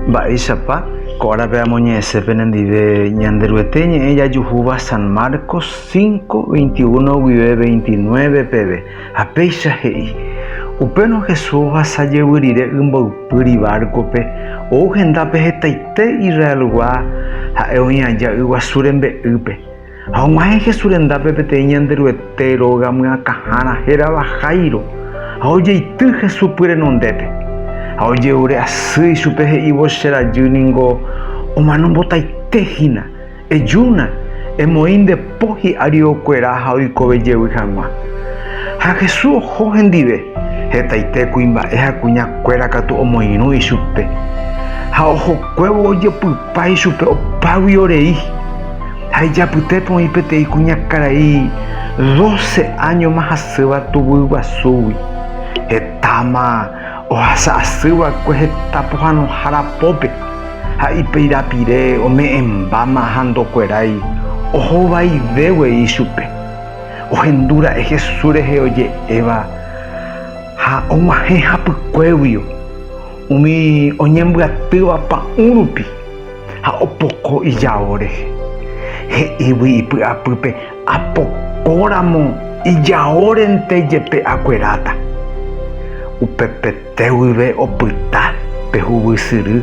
Mba'éichapa ko árape amoñe'ẽse penendive Ñanderuete ñe'ẽ jajuhúva San Marcos 5, 21 guive 29 peve, ha péicha he'i, Upérõ Jesús ohasa jevy rire y mboypýri bárkope, ou hendápe hetaite Israelgua ha'e oĩ aja yguasu rembe'ýpe. Ha og̃uahẽ Jesús rendápe peteĩ Ñanderuete róga myakãhára hérava Jairo, ha ojeity Jesús pyrenondépe, ha oje'ure asy ichupe he'ívo Che rajy ningo omano mbotaite hína, ejúna, emoĩ nde po hi'ári okuera ha oikove jevy hag̃ua. Ha Jesús oho hendive, hetaite kuimba'e ha kuña kuéra katu omoirũ ichupe, ha ohokuévo ojepypa ichupe opágui orei. Ha ijapyte poĩ peteĩ kuñakarai doce áñoma hasýva tuguy guasúgui, hetáma ohasa asy va'ekue heta pohãnohára pópe, ha ipeirapire ome'ẽmbáma ha ndokuerái ohovaive guei ichupe. Ohendu ra'e Jesús rehe oje'éva ha og̃uahẽ hapykuéguio umi oñembyatýva pa'ũ rupi. Ha opoko ijao rehe. He'ígui ipy'apýpe, Apokóramo ijaórente jepe akueráta. Upepete guive opyta pe huvysyry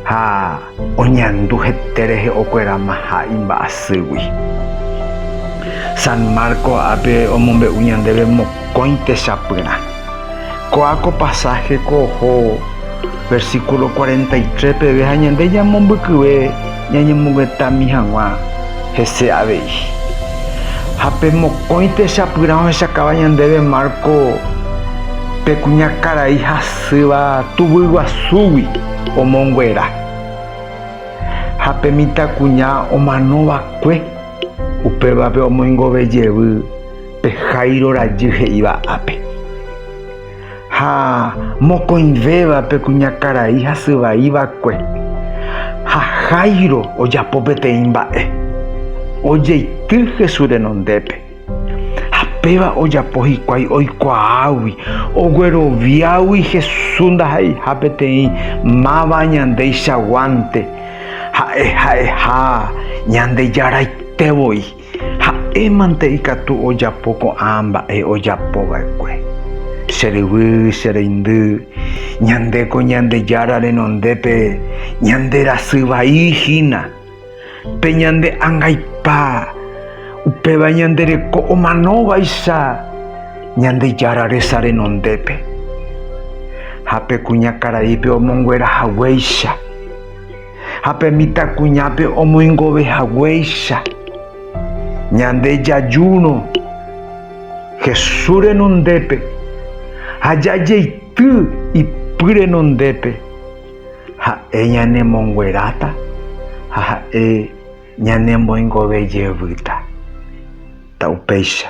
ha oñandu hete rehe okueramaha imba'asýgui. San Marco ápe omombe'u ñandéve mokõi techapyrã. Ko'ã ko pasáhe ko oho versíkulo cuarenta y tres peve ha ñande ñamombykyve ñañemoguetami hag̃ua hese avei. Ha pe mokõi techapyrã ohechakáva ñandéve Marco pe kuñakarai hasýva tuguy guasúgui omonguera ha pe mitãkuña omano va'ekue, upévape omoingove jevy Pe Jairo rajy he'íva ápe. Ha mokõivéva pe kuñakarai hasy vai va'ekue. Ha Jairo ojapo peteĩ mba'e. Ojeity Jesús renondépe. Ha péva ojapo hikuái oikuaágui, ogueroviágui Jesús ndaha'eiha peteĩ máva añandéicha guánte, ha'e ha'eha Ñandejáraite voi. Ha'émante ikatu ojapo ko'ã mba'e ojapo va'ekue. Che ryvy, che reindy, ñande ko Ñandejára renondépe ñande rasy vai hína. Pe ñande angaipa, upéva ñande reko omano vaicha Ñandejára resa renondépe. Ha pe kuñakaraípe omonguera haguéicha. ha pe mitãkuñápe omoingove haguéicha. Ñande jajúrõ Jesús renondépe ha jajeity ipy renondépe, ha'e ñanemongueráta ha ha'e ñanemboingove jevýta. Upéicha.